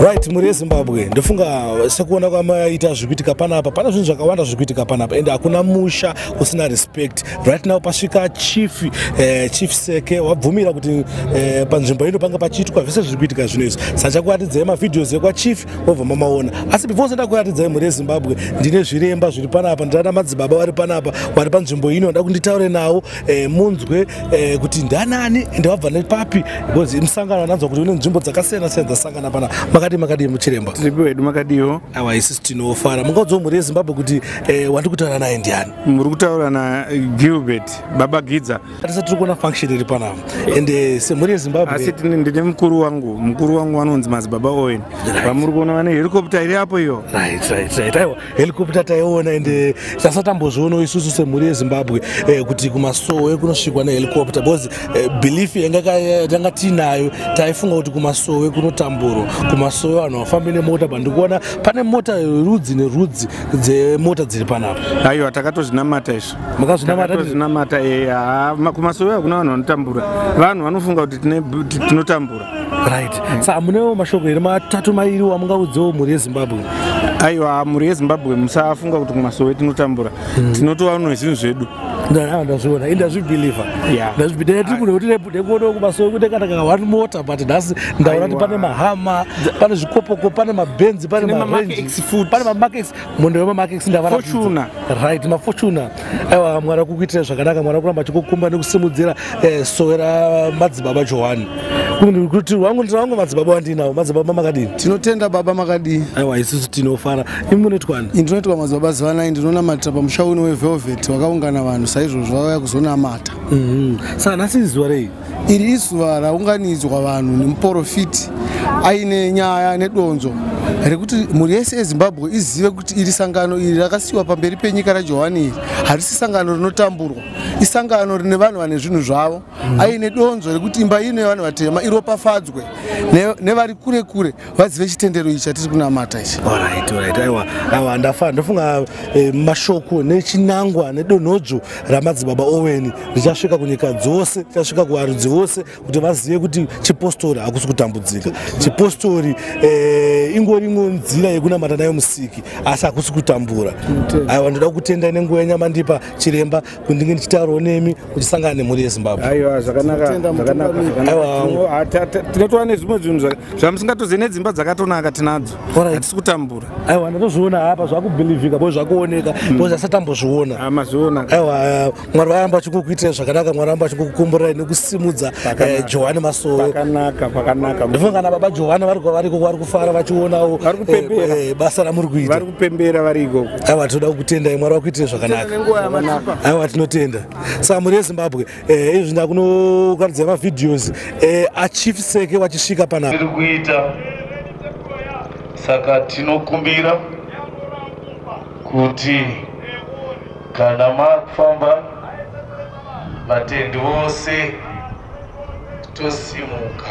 right mhuri yezimbabwe ndofunga sekuona kwamaita zviri kuitika panapa pane zvinhu zvakawanda zviri kuitika panapa ende hakuna musha usina respect right now pasvika chief eh, chief seke wabvumira kuti eh, panzvimbo ino panga pachiitwa zvese zviri kuitika zvino izvi saka chakuratidzai mavideos ekwachief wobva mamaona asi before senda kuratidzai mhuri yezimbabwe ndine zviremba zviri panapa ndana madzibaba vari panapa vari panzvimbo ino nda kunditaure nawo eh, munzwe eh, kuti ndanani ende wabva nepapi because musangano ananzwa kuti une nzvimbo dzakasiyana siyana dzasangana pana makadii makadii muchiremba tiripi wedu makadiiwo awa isisi tinofara mungaudzwa mhuri yezimbabwe kuti eh, wandi kutaura naye ndiani muri kutaura nagilbert baba gidza atisa tiri kuona function iri panapa ende eh, semhuri yezimbabwe asi ndine mukuru wangu mukuru wangu vanonzi madzibaba owen vamuri kuona vane helicopter iri apo iyo right right right aiwa helicopter taiona and eh, tasatambozvionawo isusu semhuri yezimbabwe eh, kuti kumasowe kunosvikwa nehelicopter because eh, belief yanga tanga tiinayo taifunga kuti kumasowe kunotamburwa kumasowe vanhu vafambe nemota but ndikuona pane mota rudzi nerudzi dzemota dziri panapa aiwa takatozvinamata izvo makazvinamatatinamata kumasowe hakuna vanhu vanotambura vanhu vanofunga kuti tinotambura right mm. sa munewo mashoko here matatu mairi wamungaudzewo mhuri yezimbabwe aiwa mhuri yezimbabwe musafunga kuti kumasowe tinotambura mm. tinotova no zvinhu zvedu ndazviona indazvibelieve ndazvibidee tiri kuno kuti nekuonewo kumasowe kuti kana kana one mota but nhasi ndaona kuti pane mahama pane zvikopoko pane mabenzi pane marenji pane mamakex munhu wemamakex ndavarafortuna right mafortuna aiwa mwari akukuitira zvakanaka mwari akuramba achikukumba nekusimudzira eh, sowe ramadzibaba johani kuti wangu ndiwangu madzibaba wandinawo madzibaba makadii tinotenda baba makadii aiwa isusu tinofara imi munoitwani ini tinoitwa madzibaba zivanai ndinonamatira pamusha uno wevelvet wakaungana vanhu saizvozvo vauya kuzonamata mhm. sa nhasi izuva rei Iri izuva raunganidzwa vanhu nemuporofiti aine nyaya nedonzo rekuti mhuri yese yezimbabwe izive kuti iri sangano iri rakasiyiwa pamberi penyika rajohani iri harisi sangano rinotamburwa isangano rine vanhu vane zvinhu zvavo mm. aine donzo rekuti imba ino yevanhu vatema iropafadzwe nevari kure kure vazive chitendero ichi chatiri kunamata ichi orit orit aiwa aiwa ndafana ndofunga eh, mashoko nechinangwa nedonhodzo ramadzibaba oweni richasvika kunyika dzose richasvika kuvarudzi vose kuti vazive kuti chipostori hakusi kutambudzika chipostori eh, ingori imwewo nzira yekunamata nayo musiki asi hakusi kutambura aiwa ndoda kutenda nenguva yenyamandipa chiremba kundinge ndichitaurawo nemi kuchisangana nemhuri yezimbabwe aiwa zvakanakanakatinotoa nezvimwe zvinhu zvamusingatozive nedzimba dzakatonaka tinadzo hatisi kutambura aiwa ndatozviona hapa zvakubhilivhika bo zvakuoneka hmm. bo zasatambozviona ah, mazviona aiwa eh, mwari vaamba vachikukuitirai zvakanaka mwari vaamba vachikukukumburai nekusimudza eh, johani masoondifunga kana baba johani variko vari kufara vachionawo eh, basa ramuri kuita pembera vari ikoko aiwa tinoda kukutendai mwari wakuitire zvakanaka aiwa tinotenda saka mhuri yezimbabwe eh, izvi ndakunokaridza mavideos eh, achief seke vachisvika panapa tiri kuita saka tinokumbira kuti kana mafamba vatendi vose tosimuka